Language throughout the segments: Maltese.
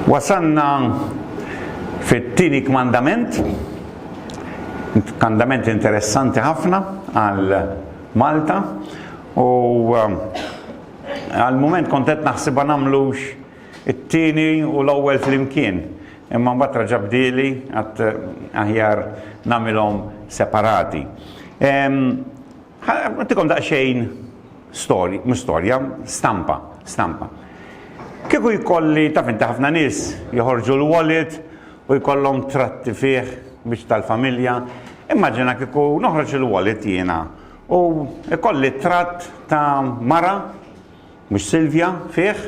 Wasanna fit-tieni kmandament, kmandament interessanti ħafna għal Malta u um, għal mument kont qed naħsibha nagħmlux it-tieni u l-ewwel flimkien. Imma mbagħad raġa' bdieli għad aħjar nagħmilhom separati. Għattikom daqsxejn storja, mhux storja, stampa, stampa. Kieku jkolli taf inti ħafna nies joħorġu l-wallet u jkollhom tratti fih biex tal-familja, immaġina kieku noħroġ il-wallet jiena u jkolli tratt ta' mara mhux Silvja fih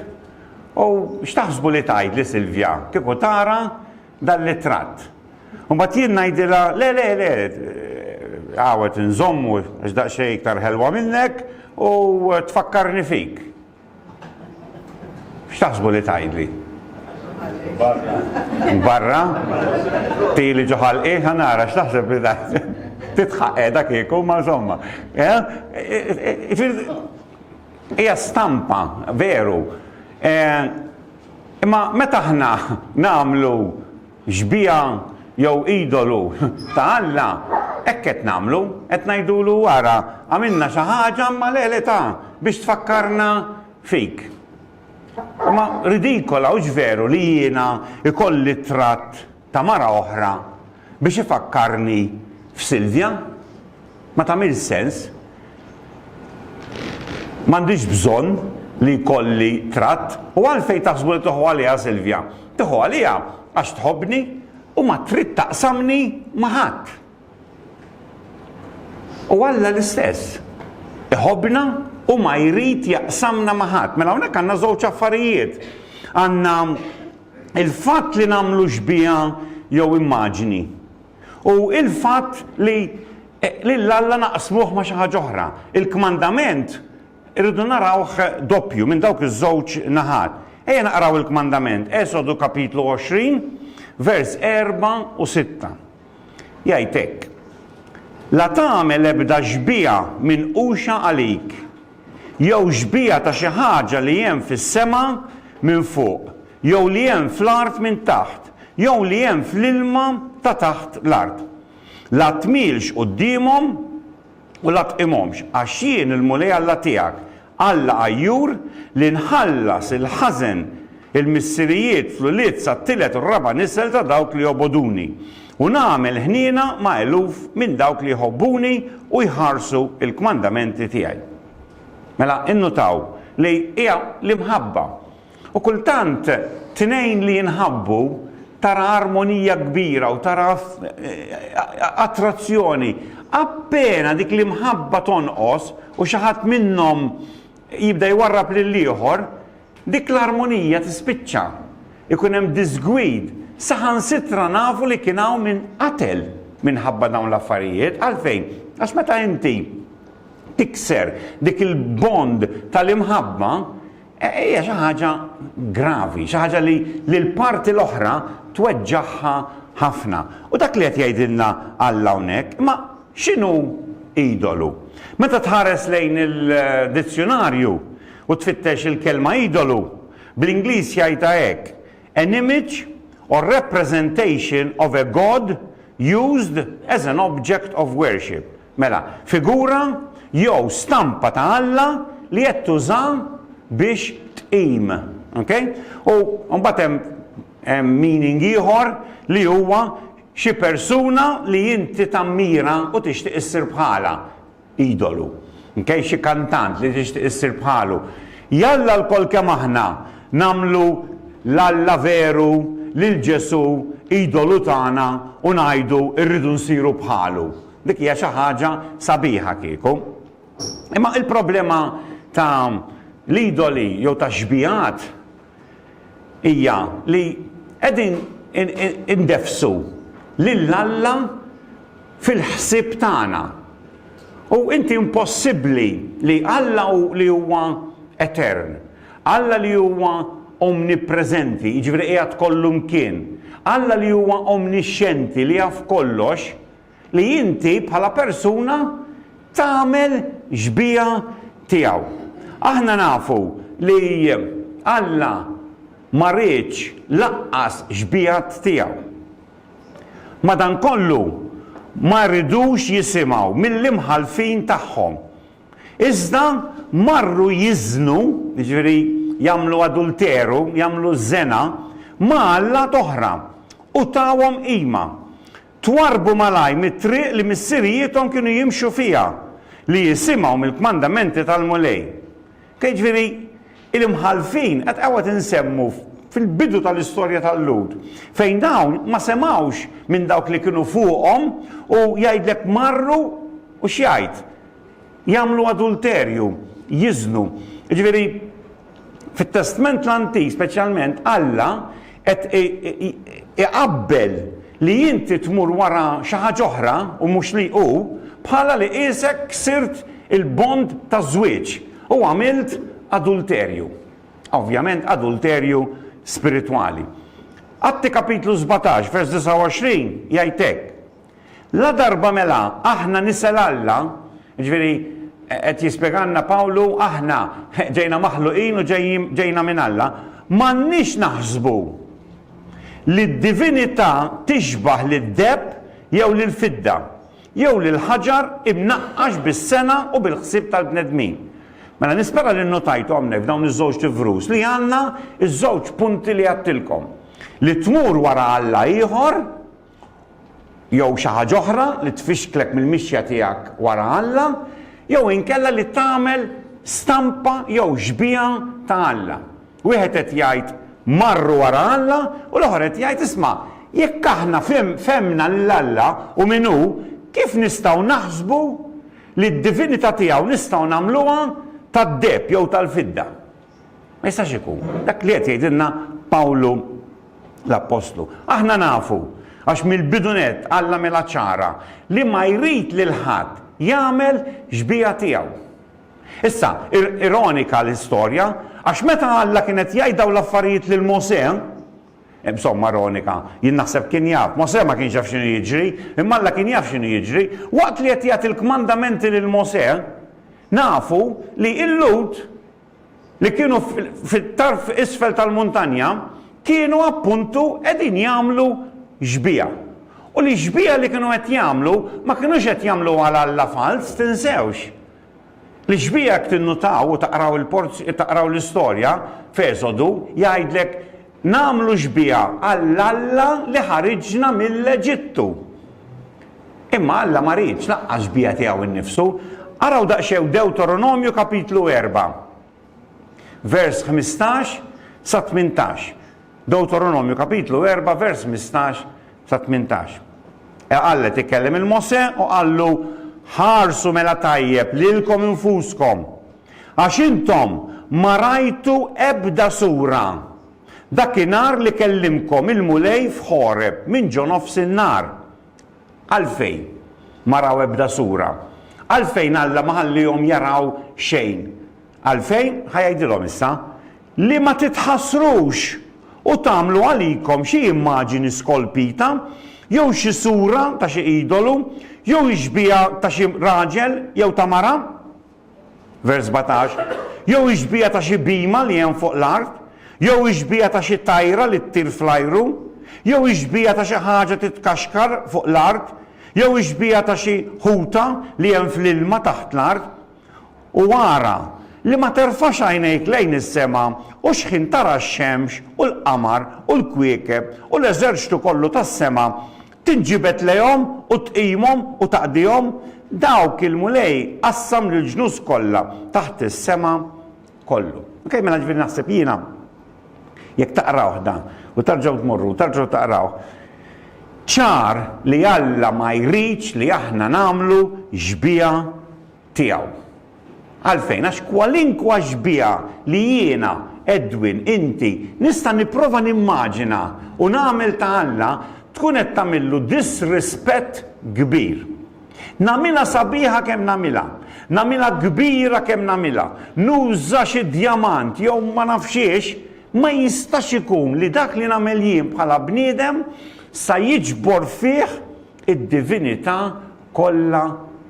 u x'taħsbu li tgħidli Silvja kieku tara dan l-ittratt. U mbagħad jien ngħidilha, le, le, le, hawn qed inżommu għax daqsxejn iktar ħelwa minnek u tfakkarni fik. X'taħsbu li tgħidli? Barra? Tili ġo ħalqi, ħa nara x'taħseb li tgħidli. Titħaq qiegħda kieku ma żomma. Hija stampa, veru. Imma meta aħna nagħmlu xbieha jew idolu ta' Alla, hekk qed nagħmlu, qed ngħidulu ara għamilna xi ħaġa imma le le ta' biex tfakkarna fik. Imma ridikola hux veru li jiena jkolli t-tratt ta' mara oħra biex ifakkarni f'Silvja? Ma tagħmilx sens. M'għandix bżonn li jkolli tratt u għalfejn taħsbu li tieħu għaliha Silvja? Tieħu għaliha għax tħobbni u ma trid taqsamni ma' ħadd. U Alla l-istess. Iħobbna u ma jrid jaqsamna ma' ħadd. Mela hawnhekk għandna żewġ affarijiet. Għandna il-fatt li nagħmlu xbieha jew immaġni, u l-fatt li lil Alla naqsmuh ma' xi ħaġa oħra. Il-kmandament irridu narawh doppju, minn dawk iż-żewġ naħat. Ejja naqraw il-kmandament, Esodu kapitlu 20, vers erba' u sitta. Jgħid hekk, La tagħmel ebda xbieha minquxa għalik, jew xbieha ta' xi ħaġa li hemm fis-sema minn fuq, jew li hemm fl-art minn taħt, jew li hemm fl-ilma ta' taħt l-art. La tmilx quddiemhom u la tqimhomx, għax jien il-Mulej Alla tiegħek, Alla għajjur li nħallas il-ħażen il-missirijiet fl-ulied sat-tielet u r-raba' nisel ta' dawk li jobogħduni, u nagħmel ħniena ma' eluf minn dawk li jħobbuni u jħarsu l-kmandamenti tiegħi. Mela, innutaw li hija l-imħabba U kultant tnejn li jinħabbu tara armonija kbira u tara attrazzjoni. Appena dik l-imħabba tonqos u xi ħadd minnhom jibda jwarrab lill-ieħor, dik l-armonija tispiċċa. Ikun hemm diżgwid. Saħansitra nafu li kien hawn min qatel minħabba dawn l-affarijiet. Għalfejn? Għax meta inti tikser dik il-bond tal-imħabba, E, hija xi ħaġa gravi, xi ħaġa li l-parti l-oħra tweġġaħħa ħafna. U dak li qed jgħidilna Alla hawnhekk, ma x'inhu idolu? Meta tħares lejn il-dizzjonarju u tfittex il-kelma idolu, bl-Ingliż jgħidha hekk, an image or representation of a god used as an object of worship. Mela, figura jew stampa ta' Alla li qed tuża biex tqim. Okay? U mbagħad hemm hemm meaning ieħor li huwa xi persuna li inti tammira u tixtieq issir bħalha, idolu. Okay? Xi kantant li tixtieq issir bħalu. Jalla lkoll kemm aħna nagħmlu l-Alla veru lil Ġesù idolu tagħna u ngħidu rridu nsiru bħalu. Dik hija xi ħaġa sabiħa kieku. Imma il-problema ta' l-idoli jew ta' xbijat hija li qegħdin indefsu lil Alla fil-ħsieb tagħna. U inti impossibbli li Alla li huwa etern, Alla li huwa omnipreżenti, jiġifieri qiegħed kollu mkien, Alla li huwa omnixxenti li jaf kollox, li inti bħala persuna tagħmel xbieha tiegħu. Aħna nafu li Alla ma riedx lanqas xbiehat tiegħu. Madankollu, ma ridux jisimgħu mill-imħallfin tagħhom. Iżda marru jiżnu, jiġifieri jagħmlu adulteru, jagħmlu żena, ma' allat oħra u tawhom qima. Twarrbu malajr mit-triq li missirijiethom kienu jimxu fiha, li jisimgħu mill-kmandamenti tal-Mulej. Ke jiġifieri, il-imħallfin qed hawnhekk insemmu fil-bidu tal-istorja tal-Lhud, fejn dawn ma semgħux minn dawk li kienu fuqhom u jgħidlek marru u x'jgħid? Jagħmlu adulterju, jiżnu. Jiġifieri fit-Testment l-Antik speċjalment Alla qed iqabbel li inti tmur wara xi ħaġa oħra u mhux li hu bħala li qiesek ksirt il-bond taż-żwieġ u għamilt adulterju. Ovvjament adulterju spiritwali. Atti kapitlu sbatax vers 29 jgħid hekk, Ladarba mela aħna nisa l-Alla, jiġifieri qed jispjegalna Pawlu aħna ġejna maħluqin u ġejna minn Alla, m'għandniex naħsbu li d-divinità tixbah lid-deheb jew lill-fidda, jew lil ħaġar imnaqqax bis-sengħa u bil-ħsieb tal-bnedmin. Mela nispera li nnotajtu hawnhekk f'dawn iż-żewġt ivrus li għandna ż-żewġ punti li għedtilkom. Li tmur wara alla ieħor, jew xi ħaġa oħra li tfixklek mill-mixja tiegħek wara Alla, jew inkella li tagħmel stampa jew xbieha ta' Alla. Wieħed qed jgħid marru wara Alla u l-oħor qed jgħid isma' jekk aħna fehmna lil Alla u min hu, kif nistgħu naħsbu li d-divinità tiegħu nistgħu nagħmluha tad-deheb jew tal-fidda? Ma jistax ikun. Dak li qed jgħidilna Pawlu l-appostlu. Aħna nafu, għax mill-bidu nett Alla għamilha ċara, li ma jrid lil ħadd jagħmel xbieha tiegħu. Issa, ironika l-istorja, għax meta Alla kien qed jgħid dawn l-affarijiet lil Mosè, insomma ironika, jien naħseb kien jaf, Mosè ma kienx jaf x'inhu jiġri, imma Alla kien jaf x'inhu jiġri, waqt li qed jagħti l-kmandamenti lil Mosè, Nafu li l-Lhud li kienu fit-tarf isfel tal-muntanja kienu appuntu qegħdin jagħmlu xbieha. U li x-xbieha li kienu qed jagħmlu ma kinux qed jagħmluha għal alla falz, tinsewx. Li x-xbieha jekk tinnutaw u taqraw il-porz taqraw l-istorja f'Esodu jgħidlek Nagħmlu xbieha għal Alla li ħariġna mill-Eġittu. Imma Alla ma riedx lanqas xbieha tiegħu nnifsu. Araw daqsxejn Dewtoronomju kapitlu erba', vers ħmistax sa tmintax. Dewtoronomju kapitlu erba' vers ħmistax sa tmintax. E Alla qed ikellem il-Mosè u qallu, Ħarsu mela tajjeb lilkom infuskom. għax intom ma rajtu ebda sura dakinhar li kellimkom il-Mulej f'Ħoreb minn ġonofs in-nar. Għalfejn ma raw ebda sura? Għalfejn Alla ma ħalliehom jaraw xejn? Għalfejn? Ħa jgħidilhom issa, Li ma titħassrux u tagħmlu għalikom xi immaġini skolpita, jew xi sura ta' xi idolu, jew ix-xbieha ta' xi raġel jew ta' mara. Vers 17, Jew ix-xbieha ta' xi bhima li hemm fuq l-art, jew ix-xbieha ta' xi tajra li ttir fl-ajru, jew ix-xbieha ta' xi ħaġa titkaxkar fuq l-art, jew ix-xbieha ta' xi ħuta li hemm fl-ilma taħt l-art. U ara, li ma terfax għajnejk lejn is-sema u xħin tara x-xemx u l-qamar u l-kwiekeb u l-eżerċtu kollu tas-sema, Tinġibed lejhom u tqimhom u taqdihom, dawk il-Mulej qassam lill-ġnus kollha taħt is-sema kollu. Ok, mela ġifieri naħseb jiena jekk taqrawh dan u terġgħu tmorru u terġgħu taqrawh, ċar li Alla ma jridx li aħna nagħmlu xbieha tiegħu. Għalfejn? Għax kwalinkwa xbieha li jiena, Edwin, inti, nista' nipprova nimmaġina u nagħmel ta' Alla, tkun qed tagħmillu disrispett kbir. Nagħmilha sabiħa kemm nagħmilha, nagħmilha kbira kemm nagħmilha, nuża xi djamant jew ma nafx xiex, ma jistax ikun li dak li nagħmel jien bħala bniedem sa jiġbor fih id-divinità kollha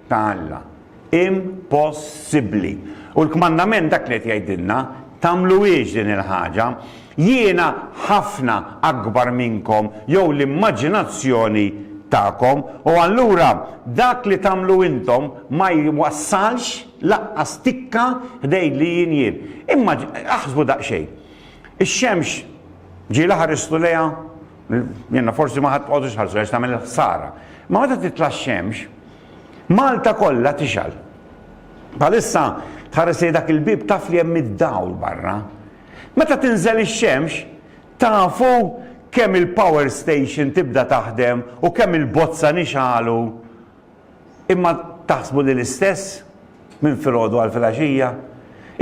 ta' Alla. Impossibbli! U l-kmandament dak li qed jgħidilna, Tagħmluhiex din il-ħaġa. Jiena ħafna akbar minnkom jew l-immaġinazzjoni tagħkom, u allura dak li tagħmlu intom ma jwassalx lanqas tikka ħdejn li jien jien. Imma aħsbu daqsxejn, ix-xemx ġie laħaq risqu lejha? Jenna forsi ma ħadd tqogħdux ħarsu għax tagħmel ħsara. Ma meta titla' xemx, Malta kollha tixal. Palissa tħares li dak il-bib taf li hemm id-dawl barra. Meta tinżel ix-xemx, tafu kemm il-power station tibda taħdem u kemm il-bozza nixalu Imma taħsbu li l-istess, minn filgħodu għal filgħaxija?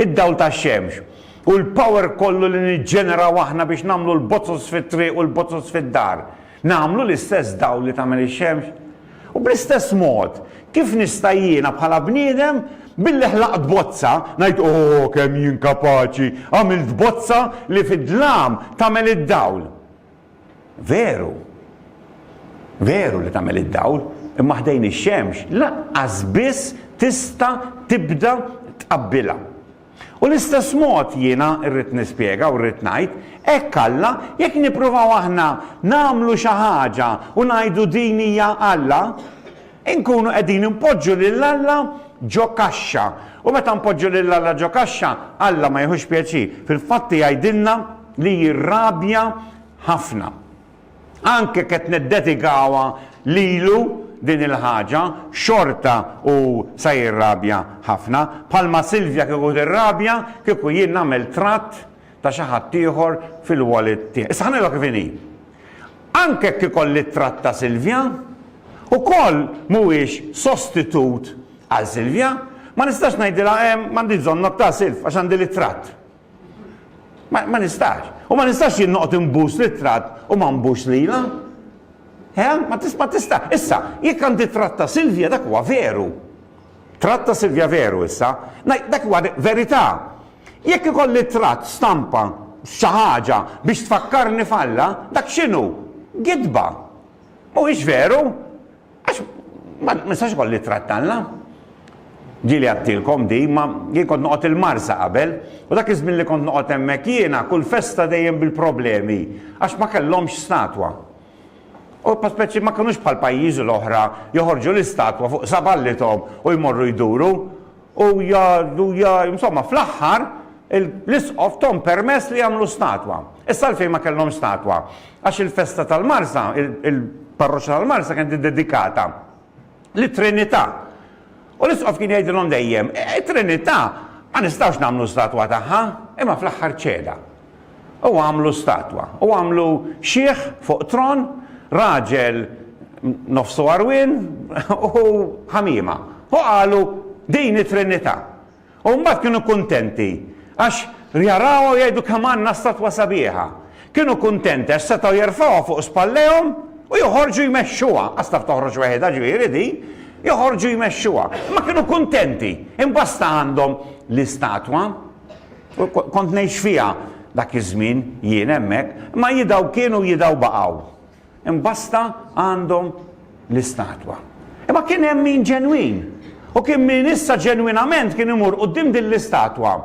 Id-dawl tax-xemx, u l-power kollu li niġġeneraw aħna biex nagħmlu l-bozzos fit-triq u l-bozzos fid-dar, nagħmlu l-istess dawl li tagħmel ix-xemx? U bl-istess mod, kif nista' jiena bħala bniedem, billi ħlaqt bozza, ngħid, O, kemm jien kapaċi, għamilt bozza li fid-dlam tagħmel id-dawl? Veru. Veru li tagħmel id-dawl, imma ħdejn ix-xemx lanqas biss tista' tibda tqabbilha. U l-istess mod jiena rrid nispjega u rrid ngħid, hekk Alla, jekk nippruvaw aħna nagħmlu xi ħaġa u ngħidu din hija Alla, Inkunu qegħdin inpoġġu lil Alla ġo kaxxa. U meta npoġġu lil Alla ġo kaxxa, Alla ma jieħux pjaċir. Fil-fatt jgħidilna li jirrabja ħafna. Anke jekk qed niddedikawha lilu din il-ħaġa, xorta hu se jirrabja ħafna. Bħalma Silvia kieku tirrabja kieku jien nagħmel tratt ta' xi ħaddieħor fil-wallet tiegħi. Issa ħa ngħidilha kif inhi. Anke jekk ikolli ttratta Silvia, ukoll mhuwiex sostitut għal Silvia. Ma nistax ngħidilha hemm m'għandix bżonnok ta' Silv għax għandi l-ittratt. Ma, ma nistax. U ma nistax jien noqgħod inbus l-ittratt u ma nbux lilha. He? Ma tista' ma tista'. Issa, jekk għandi ttratt ta' Silvia dak huwa veru. Tratt ta' Silvia Veru issa, ngħid dak li huwa verità. Jekk ikolli tratt, stampa, xi ħaġa biex tfakkarni f'Alla, dak x'inhu? Gidba. Mhuwiex veru? Għax ma nistax ikolli tratt t'Alla. Ġieli għadtilkom din, imma jien kont noqgħod il-Marsa qabel, u dak iż-żmien li kont noqgħod hemmhekk jiena, kull festa dejjem bil-problemi, għax ma kellhomx statwa. Huma speċi ma kinux bħal pajjiżi l-oħra joħorġu l-istatwa fuq saballithom u jmorru jduru u jgħidu ja insomma fl-aħħar l-isqof thom permess li jagħmlu statwa. Issa għalfejn ma kellhomx statwa? Għax il-festa tal-Marsa, il-parroċċa tal-Marsa kienet iddedikata lit-Trinità. U l-isqof kien jgħidilhom dejjem, it-Trinità ma nistgħux nagħmlu statwa tagħha, imma fl-aħħar ċeda. U għamlu statwa, u għamlu xiħ fuq tron, raġel nofsu għarwien u ħamiema. U qalu, Din hi trinità. U mbagħad kienu kuntenti għax jarawha u jgħidu kemm għandna statwa sabiħa. Kienu kuntenti għax setgħu jerfgħuha fuq spallejhom u joħorġu jmexxuha, għax taf toħroġ weħidha ġifieri din, joħorġu jmexxuha. Imma kienu kuntenti, imbasta għandhom l-istatwa. Kont ngħix fiha dak iż-żmien jien hemmhekk, imma jidhaw kienu jidhaw baqgħu. Imbasta għandhom l-istatwa. Imma kien hemm min ġenwin. U kien min issa ġenwinament kien imur quddiem din l-istatwa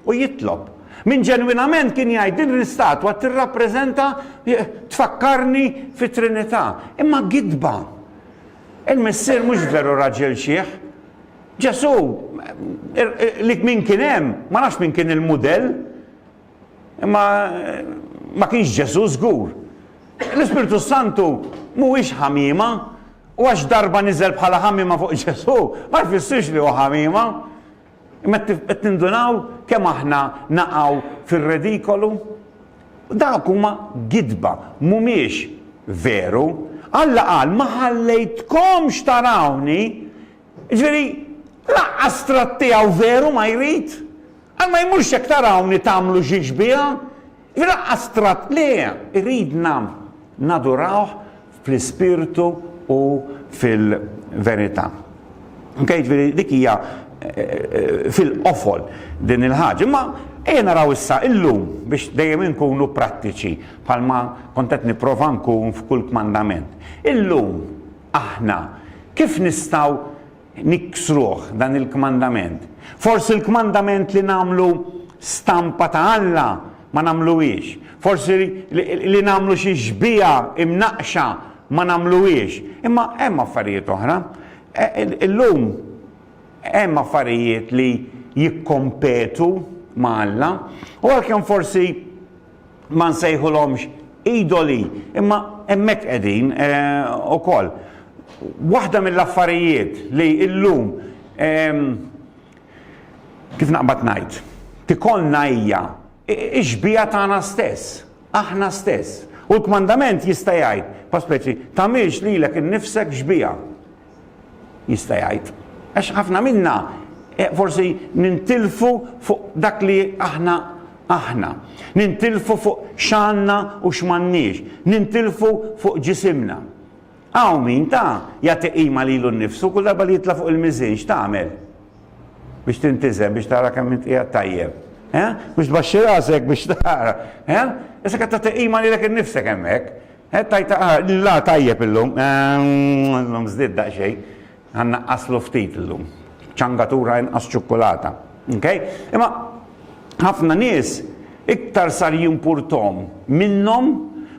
u jitlob. Min ġenwinament kien jgħid din l-istatwa tirrappreżenta tfakkarni fit-Trinità. Imma gidba. Il-missier mhux veru raġel xiħ. Ġesù, li min kien hemm, ma nafx min kien il-mudell, imma ma kienx Ġesù żgur. L-Ispirtu s-Santu mhuwiex ħamiema, u għax darba niżel bħala ħamiema fuq Ġesù, ma jfissirx li hu ħamiema. Imma qed nindunaw kemm aħna naqgħu fir-redikolu? Dawk huma gidba, mhumiex veru. Alla qal, ma ħallejtkomx tarawni Jiġifieri, laqqas tratt tiegħu veru ma jrid? Għal ma jmurx jekk tarawni tagħmlu xi xbieha? Jiġifieri laqqas tratt le, iridna nadurawh fl-ispirtu u fil-verità. Ok, jiġifieri dik hija fil-qofol din il-ħaġa. Imma ejja naraw issa illum biex dejjem inkunu prattiċi bħalma kont qed nipprova nkun f'kull kmandament. Illum Aħna, kif nistgħu niksruh dan il-kmandament? Forsi l-kmandament li nagħmlu stampa ta' Alla ma nagħmluhiex. Forsi li nagħmlu xi xbieha imnaqqxa ma nagħmluhiex. Imma hemm affarijiet oħra. E, e, illum hemm affarijiet li jikkompetu ma' Alla u għalkemm forsi ma nsejħulhomx idoli, imma hemmhekk qegħdin ukoll. Waħda mill-affarijiet li llum kif naqbad ngħid, tikollna hija x-xbieha tagħna stess, aħna stess. U l-kmandament jista' jgħid, pa speċi, tagħmilx lilek innifsek xbieha. jista' jgħid. Għax ħafna minna eh, forsi nintilfu fuq dak li aħna aħna. Nintilfu fuq xanna u x'mannix. Nintilfu fuq ġisimna. Għaw min ta' jagħti qima lilu nnifsu kull darba li jitla' fuq il-miżin x'tagħmel? Biex tintizem, biex tara kemm inti tajjeb. Eh? Biex tbaxxi rasek biex tara. Eh? Issa qed tagħti qima lilek innifsek hemmhekk. Qed tgħid la tajjeb illum. Illum żdied daqsxejn. Ħa nnaqqaslu ftit illum. Ċangatura inqas ċukkulata. Okay? Imma ħafna nies iktar sar jimpurthom minnhom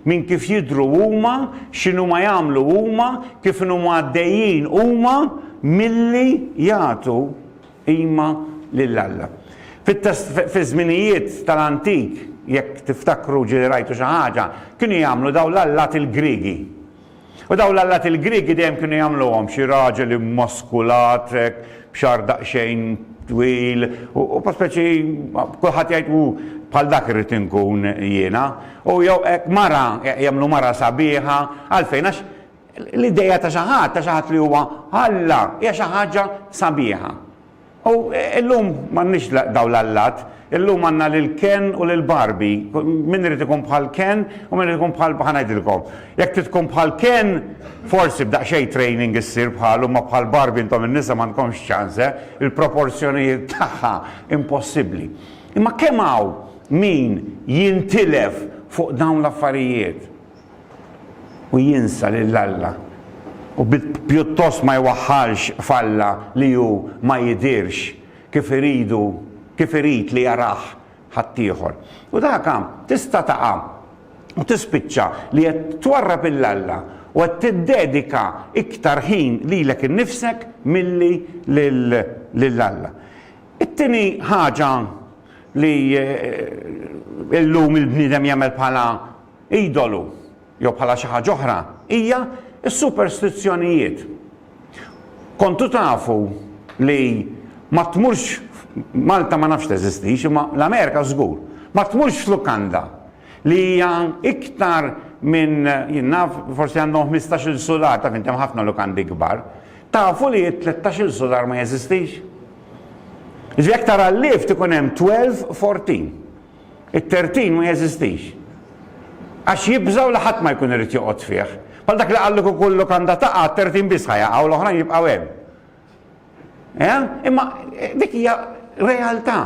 minn kif jidhru huma, x'inhuma jagħmlu huma, kif inhuma għaddejjin huma milli jagħtu Qima lil Alla. Fit-test, fiż-żminijiet tal-antik, jekk tiftakru ġieli rajtu xi ħaġa, kienu jagħmlu dawn l-allat il-Griegi. U dawn l-allat il-Griegi dejjem kienu jagħmluhom xi raġel immaskulat hekk, b'xagħar daqsxejn twil, u u speċi kulħadd jgħid hu bħal dak irrid inkun jiena. U jew hekk mara, jagħmlu mara sabiħa, għalfejn? Għax L-idea ta' xi ħadd, ta' xi ħadd li huwa Alla, hija xi ħaġa sabiħa. U llum m'għandniex dawn l-allat, illum għandna lil Ken u lil Barbie. Min irid ikun bħal Ken u min irid ikun bħal, ħa ngħidilkom. Jekk trid tkun bħal Ken, forsi b'daqsxejn training issir bħalu, imma bħal Barbie intom in-nisa m'għandkomx ċans, eh, il-proporzjonijiet tagħha impossibbli. Imma kemm hawn min jintilef fuq dawn l-affarijiet? u jinsa lil Alla u pjuttost ma jwaħħalx f'Alla li hu ma jidhirx kif iridu kif irid li jarah ħaddieħor. U daka tista' taqa' u tispiċċa li qed twarrab 'il Alla u qed tiddedika iktar ħin lilek innifsek milli lil Alla. It-tieni ħaġa li llum il-bniedem jagħmel bħala idolu jew bħala xi ħaġa oħra hija s-superstizzjonijiet. Kontu tafu li ma tmurx Malta ma nafx teżistix imma l-Amerika żgur. Ma tmurx f'lukanda li hija iktar minn jien naf forsi għandhom 15-il sular taf inti hemm ħafna lukandi kbar. Tafu li 13-il sular ma jeżistix? Ġifieri jekk tara l-lift ikun hemm 12, 14. It-tertin ma jeżistix. Għax jibżgħu li ħadd ma jkun irid joqgħod fih. Bħal dak li qal li kieku l-lukanda taqa', t-tertin biss ħa jaqa' u l-oħrajn jibqgħu hemm. Eh? Imma eh, dik hija realtà.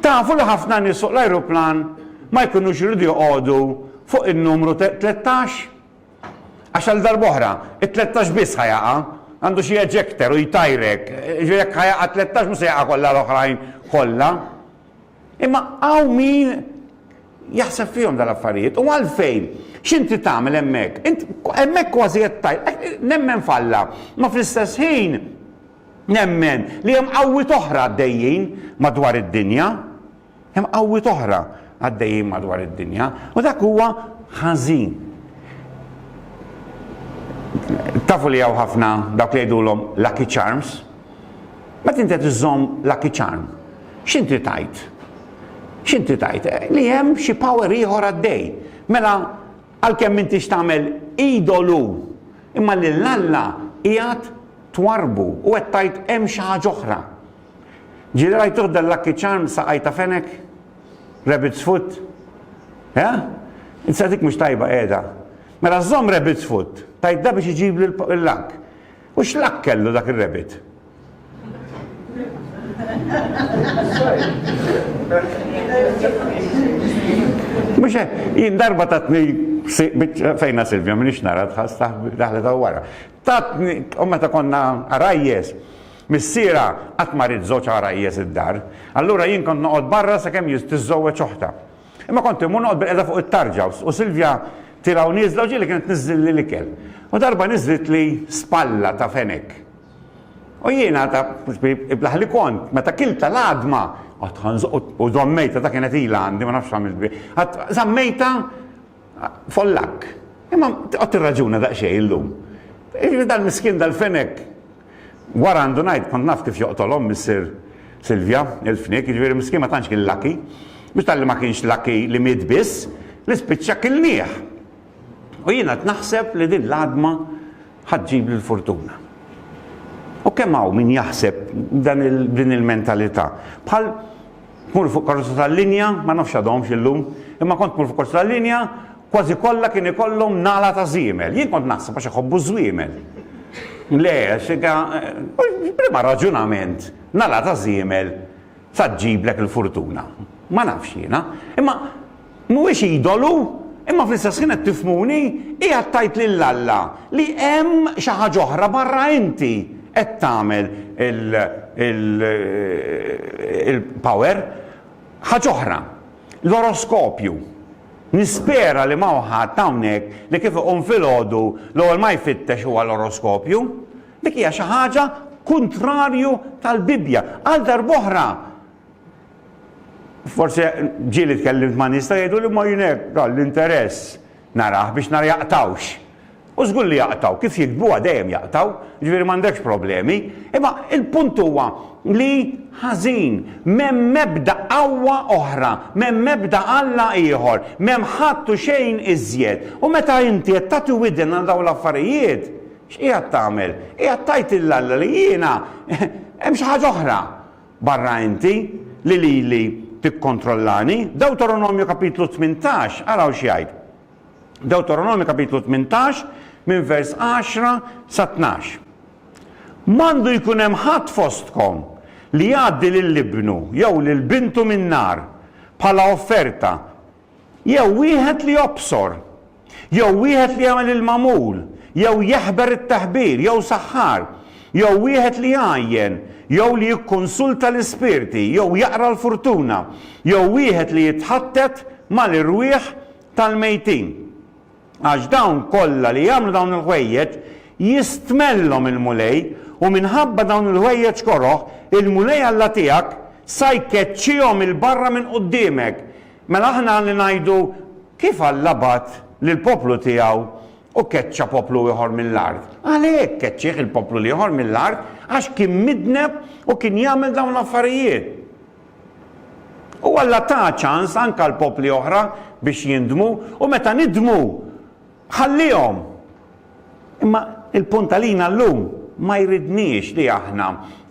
Tafu li ħafna nies fuq l-ajruplan ma jkunux iridu joqogħdu fuq in-numru 13? Għax għal darboħra, it-13 biss ħajaqa, għandu xie ejector u jtajrek, ġvijek ħajaqa 13 musa jaqa kolla l-oħrajn kolla. Imma hawn min jaħseb fihom dal-affarijiet. U għalfejn? X'inti tagħmel hemmhekk? Int hemmhekk kważi qed tajt, eh, nemmen falla, ma fl-istess ħin nemmen li hemm qawwiet oħra għaddejjin madwar id-dinja. Hemm qawwiet oħra għaddejjin madwar id-dinja. U dak huwa ħażin. Tafu li hawn ħafna dawk li jgħidulhom lucky charms, Meta inti qed iżżomm Lucky Charm, x'int trid tgħid? X'int trid tgħid? Li hemm xi power ieħor għaddej. Mela għalkemm m'intix tagħmel idolu, imma lil Alla qiegħed twarrbu u qed tgħid hemm xi ħaġa oħra. Ġieli rajtuh dan Lucky Charm saqaj ta' fenek? Rabbit's foot? Eh? Insa dik mhux tajba qiegħda. Mela żomm rabbit's foot, tajt da biex iġibli l-lak. U x'luck kellu dak ir-rabbit? Mhux hekk, jien darba tatni fejna Silvja minix nara tħass daħlet hawn wara. Tatni u meta konna għarajjes, missiera qatt ma rid żewġ għarajjes id-dar, allura jien kont noqgħod barra sakemm tiżżewweġ oħtha. Imma kont immur noqgħod bil-qiegħda fuq it-tarġa u Silvja tilgħu nieżla u ġieli kienet tniżżilli l-ikel. U darba niżżlitli spalla ta' fenek. U jiena ta' iblaħ li kont, meta kilta l-għadma, għad ħanżoq u żammejta ta' kienet ilha għandi ma nafx għamilt bi. Għad żammejta Follakk. Imma tqgħod tirraġuna daqsxejn illum. Jiġifieri dal-miskin dal-fenek wara għandu ngħid kont naf kif joqtolhom missier Silvja, il-fniek, jiġifieri miskin ma tantx kien lucky. Mhux talli ma kienx lucky li miet biss, li spiċċa kilnieh. U jien qed naħseb li din l-għadma ħa ġġibli l-furtuna. U kemm hawn min jaħseb dan din il-mentalità. Bħal Tmur fuq karozza tal-linja, ma nafx għadhomx illum, imma kont tmur fuq karozza tal-linja, kważi kollha kien ikollhom nagħla ta' żiemel. Jien kont naħseb għax iħobbu ż-żwiemel. Le, għax inka, b'liema raġunament nagħla ta' żiemel sa ġġiblek il-furtuna? Ma nafx jiena. Imma. Mhuwiex idolu, imma fl-istess ħin qed tifhmuni, qiegħed tgħid lil Alla li hemm xi ħaġa oħra barra inti qed tagħmel il-power, ħaġa oħra, l-oroskopju. Nispera li m'hawn ħadd hawnhekk li kif iqum filgħodu l-ewwel ma jfittex huwa l-oroskopju. Dik hija xi ħaġa kuntrarju tal-Bibbja. Għal darb'oħra, Forsi ġieli tkellimt ma' nies ta' jgħidu li mmorr jien hekk dan l-interess narah biex nara jaqtgħux. U żgur li jaqtgħu, kif jiktbuha dejjem jaqtgħu, jiġifieri m'għandekx problemi. Imma l-punt huwa li ħażin, m'hemm ebda qawwa oħra, m'hemm ebda Alla ieħor, m'hemm ħadd u xejn iżjed. U meta inti qed tagħti widen għal dawn l-affarijiet, x'qiegħed tagħmel? Qiegħed tgħid lil Alla li jiena hemm xi ħaġa oħra. Barra inti, li lili tikkontrollani? Dewteronomju kapitlu tmintax, araw x'jgħid. Dewteronomju kapitlu tmintax, minn vers għaxra sa tnax. M'għandu jkun hemm ħadd fostkom li jgħaddi lil ibnu jew lil bintu min-nar bħala offerta Jew wieħed li jobsor. Jew wieħed li jagħmel il-magħmul, jew jeħber it-teħbir, jew saħħar. Jew wieħed li jgħajjen, jew li jikkunsulta l-ispirti, jew jaqra l-furtuna. Jew wieħed li jitħattet mal-irwieħ tal-mejtin. Għax dawn kollha li jagħmlu dawn il-ħwejjeġ, jistmellhom il-Mulej, u minħabba dawn il-ħwejjeġ koroh, il-Mulej Alla tiegħek sa jkeċċihom 'il barra minn quddiemek. Mela aħna għandna ngħidu, 'Kif Alla bagħat lill-poplu tiegħu u keċċa poplu ieħor mill-art? Għalhekk keċċieh il-poplu l-ieħor mill-art, għax kien midneb u kien jagħmel dawn l-affarijiet. U Alla ta ċans anke għal popli oħra biex jindmu, u meta nidmu, ħallihom! Imma l-punt għalina llum, ma jridniex li aħna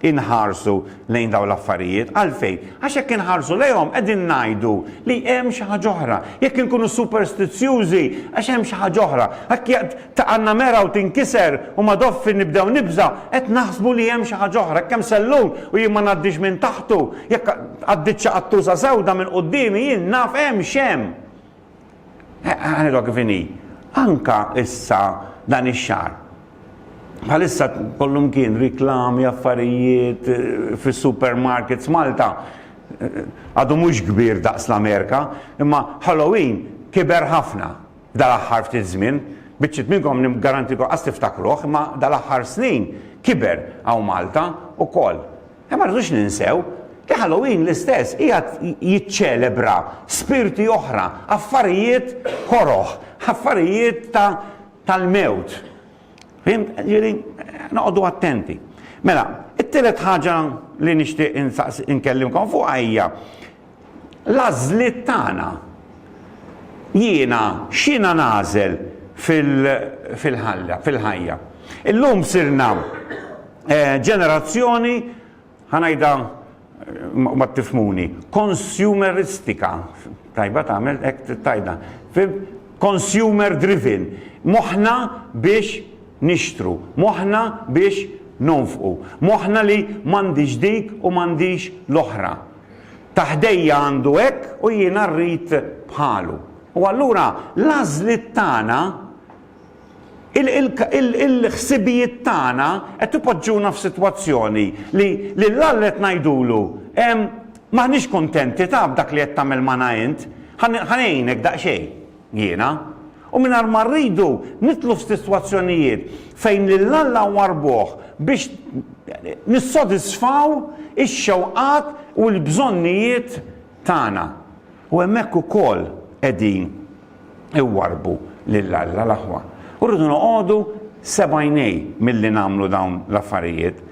inħarsu lejn dawn l-affarijiet. Għalfejn? Għax jekk inħarsu lejhom, qegħdin ngħidu li hemm xi ħaġa oħra. Jekk inkunu superstizzjużi, għax hemm xi ħaġa oħra. Taqa' n-namera u tinkiser u ma doffi nibdew nibża', qed naħsbu li hemm xi ħaġa oħra, hekk hemm sellun u jien ma ngħaddix minn taħtu, jekk għaddiet xi qattuża sewda minn quddiemi jien naf hemm x'hemm. Ħanidha kif inhi. Anke issa dan ix-xahar. Bħalissa kollumkien riklami, affarijiet, fis-supermarkets, Malta għadu mhux kbir daqs l-Amerika, imma Halloween kiber ħafna. Dal-aħħar ftit żmien, biċċiet minnkom niggarantikom qas tiftakruh, imma dal-aħħar snin kiber hawn Malta wkoll. Imma ma rridux ninsew li Halloween l-istess qiegħed jiċċelebra spirti oħra, affarijiet koroh, affarijiet ta' tal-mewt. Fhimt? Ġieli, noqogħdu attenti. Mela, it-tielet ħaġa li nixtieq insaqs inkellimkom fuqha hija l-għażliet tagħna. Jiena x'jiena nagħżel fil-ħalla, fil-ħajja. Illum sirna ġenerazzjoni, ħa ngħidha u ma tifhmuni, konsumeristika, tajba tagħmel hekk tittajda, fim? Consumer driven. Moħħna biex nixtru, moħħna biex nonfqu, moħħna li m'għandix dik u m'għandix l-oħra. Ta' ħdejja għandu hekk u jiena rrid bħalu. U allura l-għażliet tagħna, il-ħsibijiet tagħna qed ipoġġuna f'sitwazzjoni li lil Alla qed ngħidulu, M'aħniex kuntenti ta' b'dak li qed tagħmel magħna int, ħa ngħinek daqsxejn. Jiena, u mingħajr ma rridu nidħlu f'sitwazzjonijiet fejn lil Alla nwarrbuh biex nissodisfaw ix-xewqat u l-bżonnijiet tagħna. U hemmhekk ukoll qegħdin iwarrbu lil Alla l-aħwa. U rridu noqogħdu sebgħajnej milli nagħmlu dawn l-affarijiet.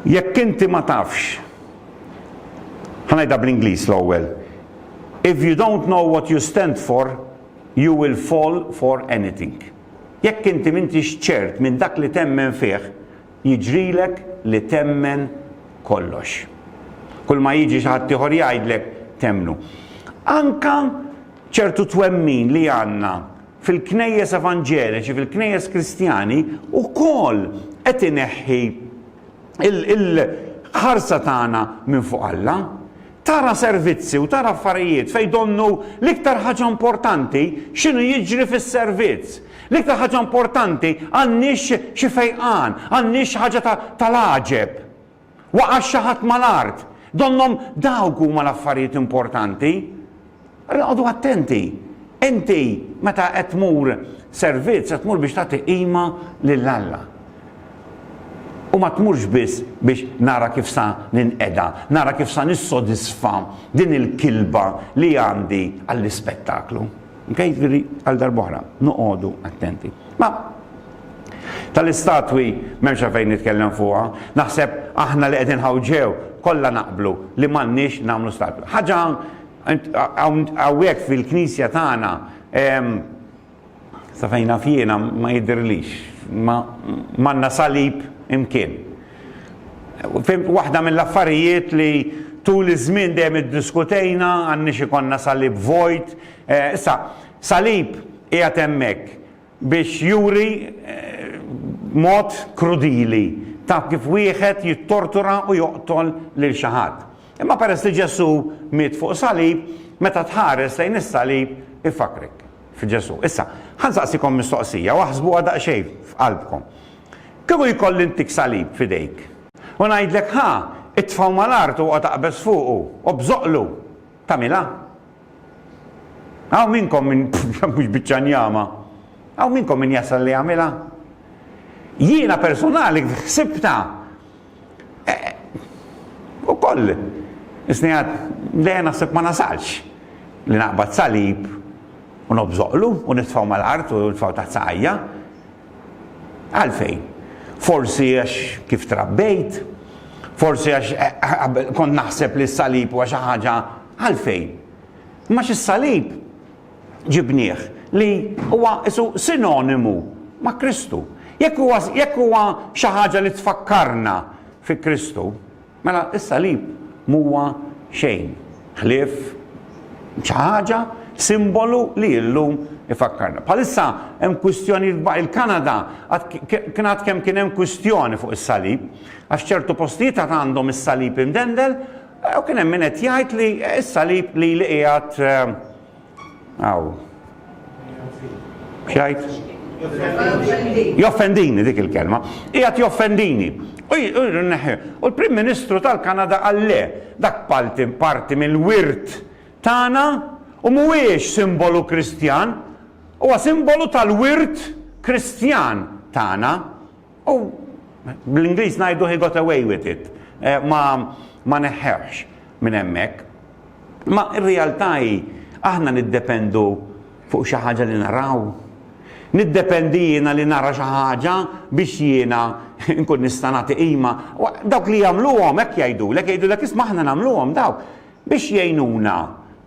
Jekk inti ma tafx, ħa ngħidha bl-Ingliż l-ewwel, If you don't know what you stand for, you will fall for anything. Jekk inti m'intix ċert minn dak li temmen fih, jiġrilek li temmen kollox. Kulma jiġi xi ħadd ieħor jgħidlek temmnu. Anka ċertu twemmin li għandna fil-knejjes evanġeliċi, fil-knejjes kristjani, ukoll qed ineħħi il-ħarsa tagħna minn fuq Alla. Tara servizzi u tara affarijiet fejn donnu l-iktar ħaġa importanti x'inhu jiġri fis-servizz. L-iktar ħaġa importanti għandniex xi fejqan, għandniex xi ħaġa tal-għaġeb. Waqax xi ħadd mal-art. Donnhom dawk huma l-affarijiet importanti. Oqogħdu attenti, inti meta qed tmur servizz qed tmur biex tagħti qima lil Alla. U ma tmurx biss biex nara kif sa ninqeda, nara kif sa nissodisfa din il-kilba li għandi għall-ispettaklu. Okay? Jiġifieri għal darb'oħra, noqogħdu attenti. Ma tal-istatwi m'hemmx għalfejn nitkellem fuqha, naħseb aħna li qegħdin hawn ġew kollha naqblu li m'għandniex nagħmlu statwi. Ħaġa Hawnhekk fil-Knisja tagħna, sa fejn naf jiena, ma jidhirlix. M'għandna salib imkien. Waħda mill-affarijiet li tul iż-żmien dejjem iddiskutejna, għandniex ikollna salib vojt. Issa, salib qiegħed hemmhekk biex juri b'mod krudili ta' kif wieħed jittortura u joqtol lil xi ħadd. Imma peress li Ġesù miet fuq salib, meta tħares lejn is-salib ifakkrek f'Ġesù. Issa, ħa nsaqsikom mistoqsija u aħsbuha daqsxejn f'qalbkom. Kieku jkolli ntik salib f'idejk u ngħidlek ħa, itfgħu mal-art u oqgħod aqbeż fuqu u bżoqqlu, tagħmilha? Hawn minnkom min mhux biċċa njama. Hawn minnkom min jasal li jagħmilha. Jiena personali ħsibta. E, u koll, isnijat, le naħseb ma nasalx li naqbad salib u nobżoqlu u nitfaw mal-art u nitfaw taħt saqajja. Għalfejn? Forsi għax kif trabbejt, forsi għax eh, eh, kont naħseb li s-salib u għax ħaġa Għalfejn? Imma għax is-salib ġibnieh li huwa isu sinonimu ma' Kristu. Jekk huwa jekk huwa xi ħaġa li tfakkarna fi Kristu, mela s-salib m'huwa xejn ħlief xi ħaġa, simbolu li illum ifakkarna. Bħalissa hemm kwistjoni il-Kanada kien għad kemm kien hemm kwistjoni fuq is-salib għax ċertu postijiet għad għandhom is-salib imdendel U kien hemm min qed jgħid li s-salib li li qiegħed hawn. X'għid? Joffendini dik il-kelma. Qiegħed joffendini. U l-Prim Ministru tal-Kanada qal le, dak palti parti mill-wirt tagħna u mhuwiex simbolu Kristjan, huwa simbolu tal-wirt Kristjan tagħna. U bl-Ingliż ngħidu he got away with it. Eh, ma ma neħħewx minn hemmhekk. Ma r-realtà hi aħna niddependu fuq xi ħaġa li naraw. Niddependi jiena li nara xi ħaġa biex jiena nkun nista' nagħti qima. Dawk li jagħmluhom hekk jgħidulek, jgħidulek isma' aħna nagħmluhom dawk. biex jgħinuna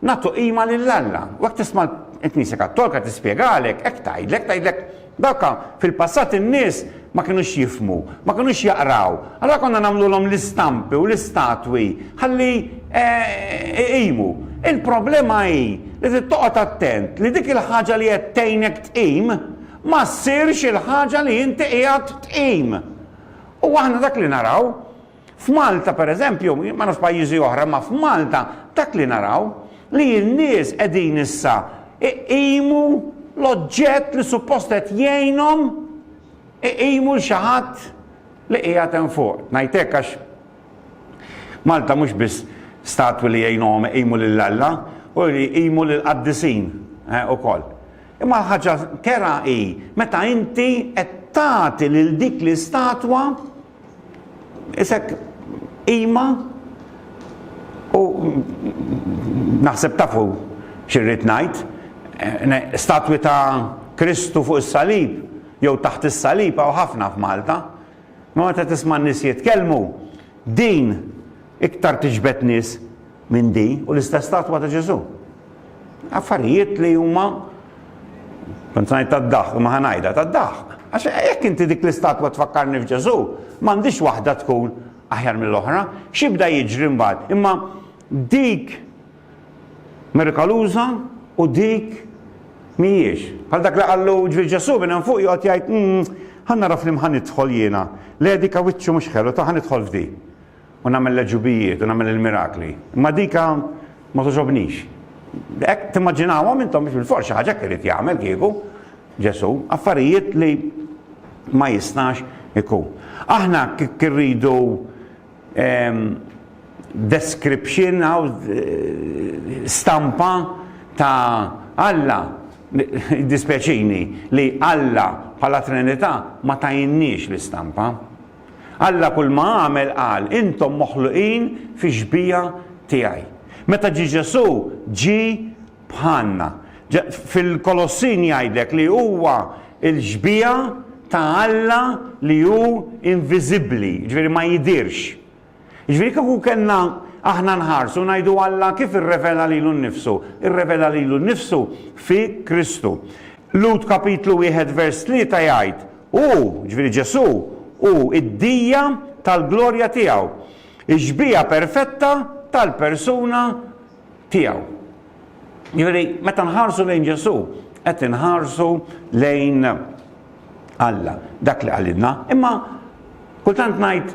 nagħtu qima lil Alla. U hekk tisma' l-Knisja Kattolika tispjegalek, hekk tgħidlek, tgħidlek dawk fil-passat in-nies ma kinux jifhmu, ma kinux jaqraw, allura konna nagħmlulhom l-istampi u l-istatwi ħalli iqimu. Il-problema hi li trid toqgħod attent li dik il-ħaġa li qed tgħinek tqim ma ssirx il-ħaġa li inti qiegħed tqim. U aħna dak li naraw, F'Malta pereżempju, ma nafx pajjiżi oħra, imma f'Malta dak li naraw li n-nies qegħdin issa iqimu l-oġġett li suppost qed jgħinhom iqimu l xi ħadd li qiegħed hemm fuq. Ngħid hekk għax Malta mhux biss statwi li jgħinuhom iqimu lil Alla u li jqimu lil qaddisin eh, ukoll. Imma ħaġa kera hi meta inti qed tagħti lil dik l-istatwa Isek qima u naħseb tafu xirrid ngħid, statwi ta' Kristu fuq is-salib jew taħt is-salib hawn ħafna f'Malta. Ma meta tisma' n-nies jitkellmu, din iktar tiġbed nies minn di u l-istess statwa ta' Ġesu. Affarijiet li huma kont ngħid tad-daħq, ma ħanajda tad-daħq. Għax jekk inti dik l-istatwa tfakkarni f'Ġesu, m'għandix waħda tkun aħjar mill-oħra, xibda jiġri mbagħad. Imma dik mirkaluża u dik mhijiex. Bħal dak li qallu ġri Ġesu minn fuq joqgħod jgħid, hmm, ħanna raf li mħan idħol jiena, l-edika wiċċu mhux ħelu ta' ħan idħol f'di. u nagħmel l-għeġubijiet u nagħmel il-mirakli. Imma dika ma toġobnix. Hekk timmaġinawhom intom biex bil-forsi xi ħaġa irid jagħmel kieku Ġesu, affarijiet li ma jistax ikun. Aħna kik irridu ehm, description għaw eh, stampa ta' Alla dispjaċini li Alla bħala Trinità ma tajinniex l-istampa. Alla kulma għamel qal, Intom moħluqin fix-xbieha tiegħi. Meta ġie Ġesù, ġie bħalna. Fil-Kolossin jgħidlek li huwa l-xbieha ta' Alla li hu inviżibbli, jiġifieri ma jidhirx. Jiġifieri kieku kellna aħna nħarsu ngħidu Alla kif irrevela lilu nnifsu? Irrevela lilu nnifsu fi Kristu. Lhud kapitlu wieħed vers tlieta jgħid, Hu, jiġifieri Ġesù, hu d-dija tal-glorja tiegħu, ix-xbieha perfetta tal-persuna tiegħu. Jiġifieri meta nħarsu lejn Ġesù qed inħarsu lejn Alla, dak li qalilna. Imma kultant ngħid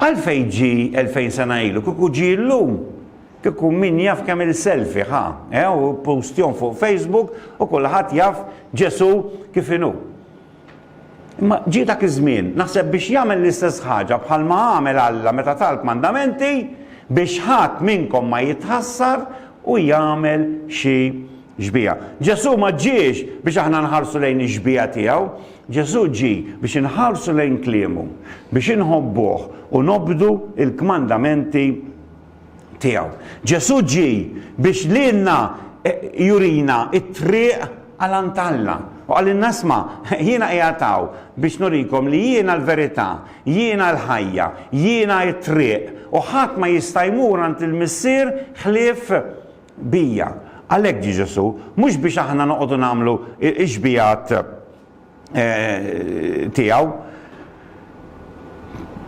Għalfejn ġie elfejn sena ilu? Kieku ġie illum, kieku min jaf kemm il-selfie ħa, eh, u ppostjhom fuq Facebook u kulħadd jaf Ġesù kif inhu. Imma ġie dak iż-żmien, naħseb biex jagħmel l-istess ħaġa bħalma għamel Alla meta ta l-kmandamenti biex ħadd minnkom ma jitħassar u jagħmel xi xbieha. Ġesù ma ġiex biex aħna nħarsu lejn ix-xbieha tiegħu, Ġesù ġie biex inħarsu lejn kliemu, biex inħobbuh u nobdu l-kmandamenti tiegħu. Ġesù ġie biex lilna jurina t-triq għal għand Alla u qalilna isma', jiena qiegħed hawn biex nurikom li jiena l-verità, jiena l-ħajja, jiena t-triq u ħadd ma jista' jmur għand il-Missier ħlief bija. Għalhekk ġie Ġesù, mhux biex aħna noqogħdu nagħmlu x-xbigħat tiegħu.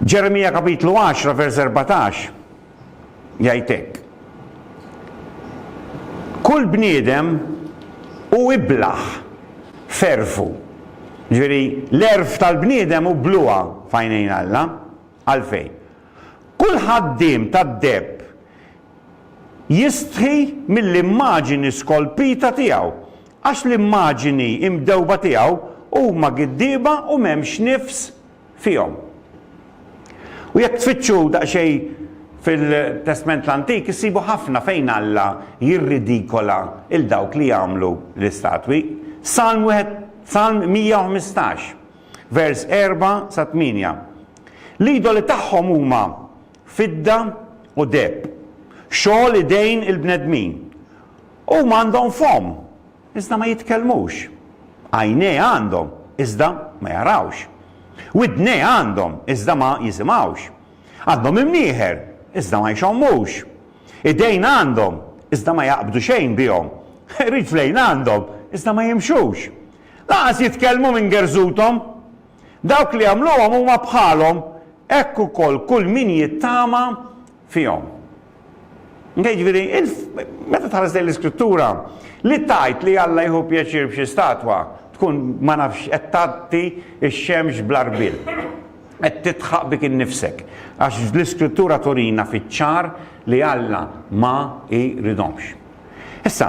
Ġeremija kapitlu 10 vers 14 jgħid hekk. Kull bniedem u iblaħ ferfu. Ġifieri l-erf tal-bniedem u bluha fajnejn Alla għalfejn. Kull ħaddiem tad-deb jistħi mill-immaġini skolpita tiegħu, għax l-immaġini imdewba tiegħu huma giddieba u m'hemmx nifs fihom. U jekk tfittxu daqsxejn fil-Testment l-Antik issibu ħafna fejn Alla jirridikola lil dawk li jagħmlu l-istatwi. Salm wieħed Salm 115, vers 4 sa 8. L-idoli tagħhom huma fidda u deheb, xogħol idejn il-bnedmin. Huma għandhom fomm, iżda ma jitkellmux. Għajnejh għandhom, iżda ma jarawx. Widnejh għandhom, iżda ma jisimgħux. Għandhom imnieħer, iżda ma jxommux. Idejn għandhom, iżda ma jaqbdu xejn bihom. Riġlejn għandhom, iżda ma jimxux. Lanqas jitkellmu minn gerżuthom. Dawk li jagħmluhom huma bħalhom, hekk ukoll kull min jittama fihom. Okej, ġifieri, meta tħares lejn l-Iskrittura, li tgħid li Alla jieħu pjaċir f'xi statwa tkun ma nafx qed tgħatti x-xemx bl-għarbiel. Qed tidħaq bik innifsek, għax l-Iskrittura turina fiċ-ċar li Alla ma jridhomx. Issa,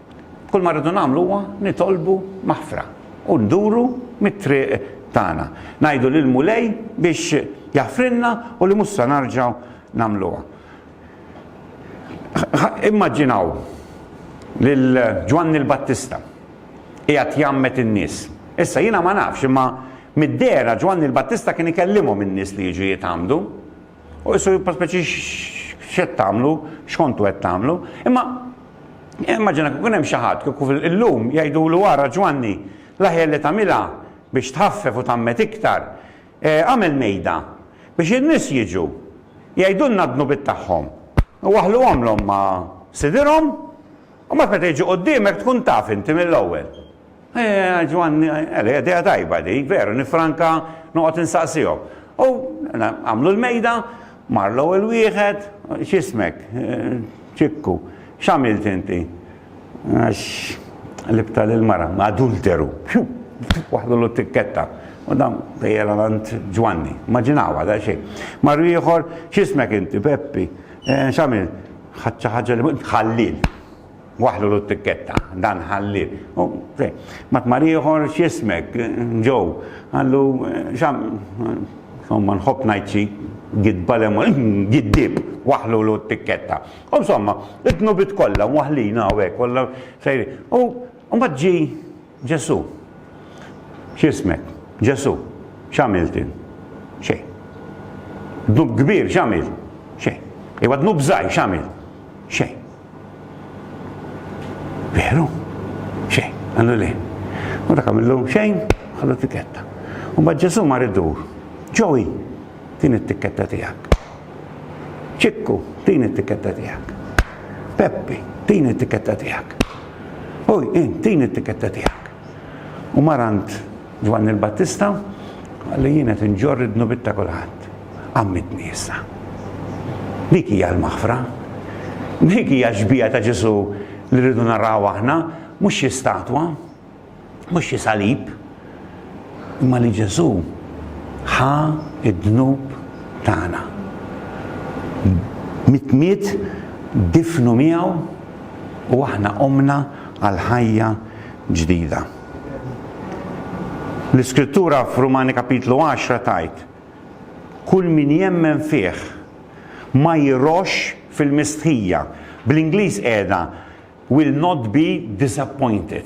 Kull ma rridu nagħmlu huwa nitolbu maħfra u nduru mit-triq tagħna. Ngħidu lill-Mulej biex jaħfrilna u li mhux se narġgħu nagħmluha. Immaġinaw lil Ġwanni l-Battista qiegħed jgħammed in-nies. Issa jiena ma nafx imma mid-dehra Ġwanni l-Battista kien ikellimhom in-nies li jiġu jitgħammdu. U jissu paspeċi x'qed tagħmlu, x'kontu qed tagħmlu. Imma immaġina kif hemm xi ħadd kif illum jgħidulu ara Ġwanni, l-aħjar li tagħmilha biex tħaffef u tgħammed iktar, e, għamel mejda biex in-nies jiġu jgħidulna d-dnubiet tagħhom u waħħluhomlhom ma' sidirhom u mbagħad meta jiġu quddiemek tkun taf inti mill-ewwel. Eeh, Ġwanni, Eli, idea tajba dik, veru, nifranka noqgħod insaqsihom. U għamlu l-mejda, mar l-ewwel wieħed, x'ismek? Ċikku. X'għamilt inti? Għax libta lil mara, adulteru. Pju! Waħdulu t-tikketta. U dan tejjela għand Ġwanni. Maġinawa da xejn. Marru ieħor, x'ismek inti? Peppi. X'għamilt? Ħadd xi ħaġa li ħallil. Waħħlulu t-tikketta, dan ħallih. U, fej, ma tmar ieħor x'jismek, Joe? Qallu, x'għam, insomma, nħobb ngħid xi gidba lemma, giddib, waħħlulu t-tikketta. U, insomma, it-tnubit kollha, waħħlina hawn hekk, kollha sejrin. U, mbagħad ġie Ġesù. X'ismek? Ġesù. X'għamilt jien? Xejn. Dnub kbir x'għamilt? Xejn. Iva dnub żgħir x'għamilt? Xejn. Veru? Xejn. Għandu le. U dak għamillu xejn, ħallu tikketta. U ma Ġesù mar idur. Ġowi, din it-tikketta tiegħek. Ċikku, tini t-tikketta tiegħek. Peppi, tini t-tikketta tiegħek. Oj, int, tini t-tikketta tiegħek. U mar għand Ġwanni l-Battista li jien qed inġorr id-dnubiet ta' kulħadd. Ammitni issa. Dik hija l-maħfra. Dik hija xbija ta' Ġesu li rridu naraw aħna, mhux xi statwa. Mhux xi salib, imma li Ġesù ħa d-dnub tagħna. Mitt miet, difnu miegħu u aħna qomna għal ħajja ġdida. L-Iskrittura f'Rumani Kapitlu 10 tgħid, Kull min jemmen fih ma jirroxx fil-mistħija. Bl-Ingliż qiegħda Will not be disappointed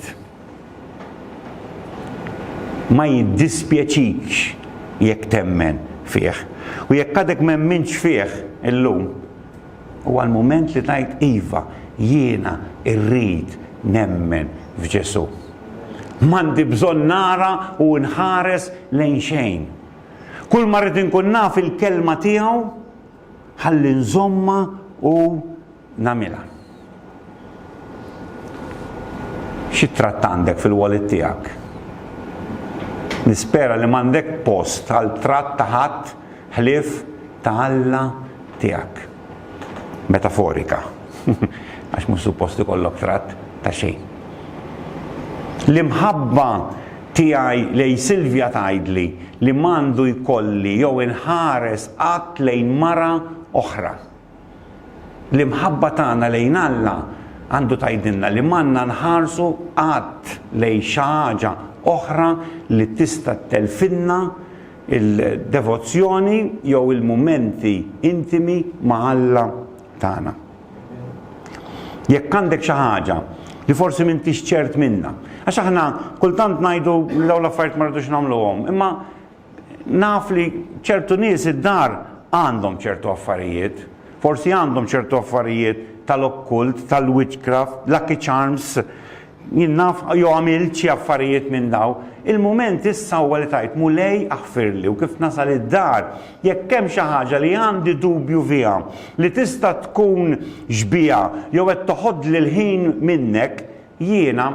Ma jiddispjaċikx jekk temmen fih. U jekk għadek m'emmintx fih illum, huwa l-mument li tgħid iva, jiena rrid nemmen f'Ġesù. M'għandi bżonn nara u nħares lejn xejn. Kull ma rrid inkun naf il-kelma tiegħu ħalli nżommha u nagħmilha. Xi tratt għandek fil-wallet tiegħek? Nispera li m'għandek post għal tratt ta' ħadd ħlief ta' Alla tiegħek. Metaforika. Għax mhux suppost ikollok tratt ta' xejn. L-imħabba tiegħi lej Silvja tgħidli li m'għandu jkolli jew inħares qatt lejn mara oħra. L-imħabba tagħna lejn Alla għandu tgħidilna li m'għandna nħarsu qatt lejn xi ħaġa oħra li tista' ttelfilna l-devozzjoni jew il-mumenti intimi ma' Alla tagħna. Jekk għandek xi ħaġa li forsi m'intix ċert minnha, għax aħna kultant ngħidu li dawn l-affarijiet ma rridux nagħmluhom, imma Naf li ċertu nies id-dar għandhom ċertu affarijiet. Forsi għandhom ċertu affarijiet tal-okkult, tal-witchcraft, lucky charms. Jien naf jew għamilt xi affarijiet minn dawn. Il-mument issa huwa li tgħid, Mulej aħfirli u kif nasal id-dar, jekk hemm xi ħaġa li għandi dubju fiha li tista' tkun xbieha jew qed toħodli l-ħin minnek, jiena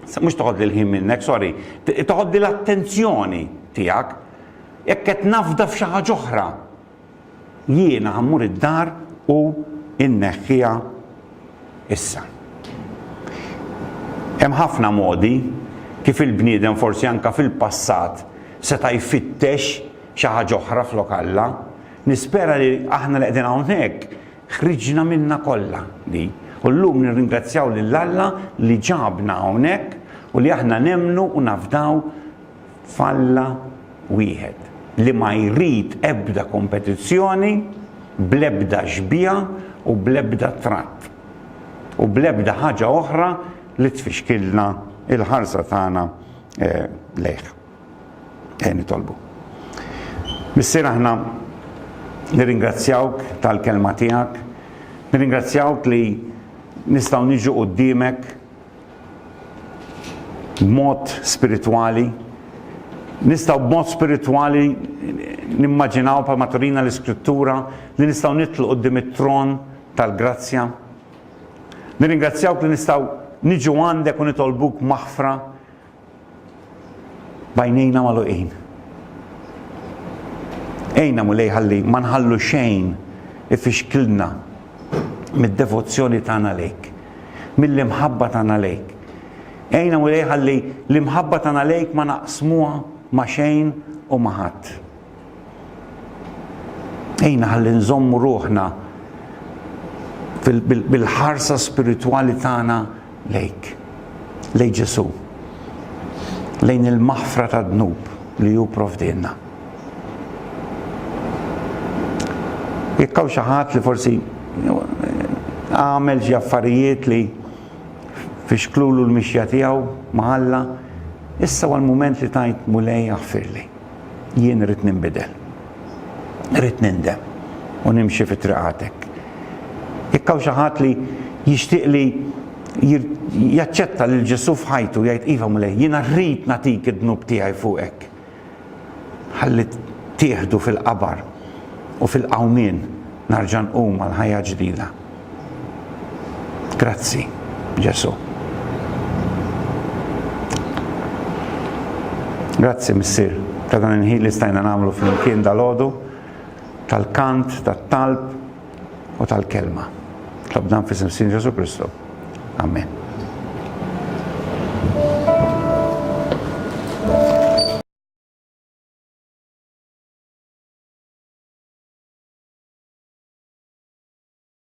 Mhux toħodli l-ħin minnek, sorry. Toħodli l-attenzjoni tiegħek. Jekk qed nafda f'xi ħaġa oħra, jiena ħammur id-dar u inneħħiha issa. Hemm ħafna modi kif il-bniedem forsi anka fil-passat seta' jfittex xi ħaġa oħra flok Alla. Nispera li aħna li qegħdin hawnhekk Ħriġna minnha kollha li. U llum nirringrazzjaw lil Alla li ġabna hawnhekk u li aħna nemmnu u nafdaw f'Alla wieħed li ma jrid ebda kompetizzjoni bl-ebda xbieha u bl-ebda tratt u bl-ebda ħaġa oħra li tfixkilna l-ħarsa tagħna lejh. Ejja nitolbu. Missier aħna nirringrazzjawk tal-kelma tiegħek, nirringrazzjawk li nistgħu niġu quddiemek b'mod spiritwali, nistgħu b'mod spiritwali nimmaġinaw bħalma turina l-iskrittura li nistgħu nitlu quddiem it-tron tal-grazzja. Nirringrazzjawk li nistgħu niġu għandek u nitolbuk maħfra b'għajnejna magħluqin. Ejna Mulej ħalli ma nħallu xejn ifixklna mid-devozzjoni tagħna lejk, mill-imħabba tagħna lejk. Ejna Mulej ħalli l-imħabba tagħna lejk ma naqsmuha ma' xejn u ma' ħadd. Ejna ħalli nżommu ruħna bil-ħarsa spiritwali tagħna lejk, lej Ġesu, lejn il-maħfra ta' dnub li ju provdinna. Jekkaw xaħat li forsi għamel xi affarijiet li fixklulu l-mixja tiegħu ma' Alla, issa għal mument li tajt mulej aħfirli. Jien irrid ninbidel. Irrid nindem u nimxi fi triqatek. Jekk hawn xi ħadd li jixtieq li jaċċetta lil Ġesù f'ħajtu jgħid iva Mulej, jiena rrid nagħtik id-dnub tiegħi fuqek. Ħalli tieħdu fil-qabar u fil-qawmien narġa' nqum għal ħajja ġdida. Grazzi, Ġesu. Grazzi, Missir, ta' dan il-ħin li stajna namlu fl-imkien dal-ħodu, tal-kant, tal-talb u tal-kelma. Tlab dan fis Sin Ġesu Kristu. Amen.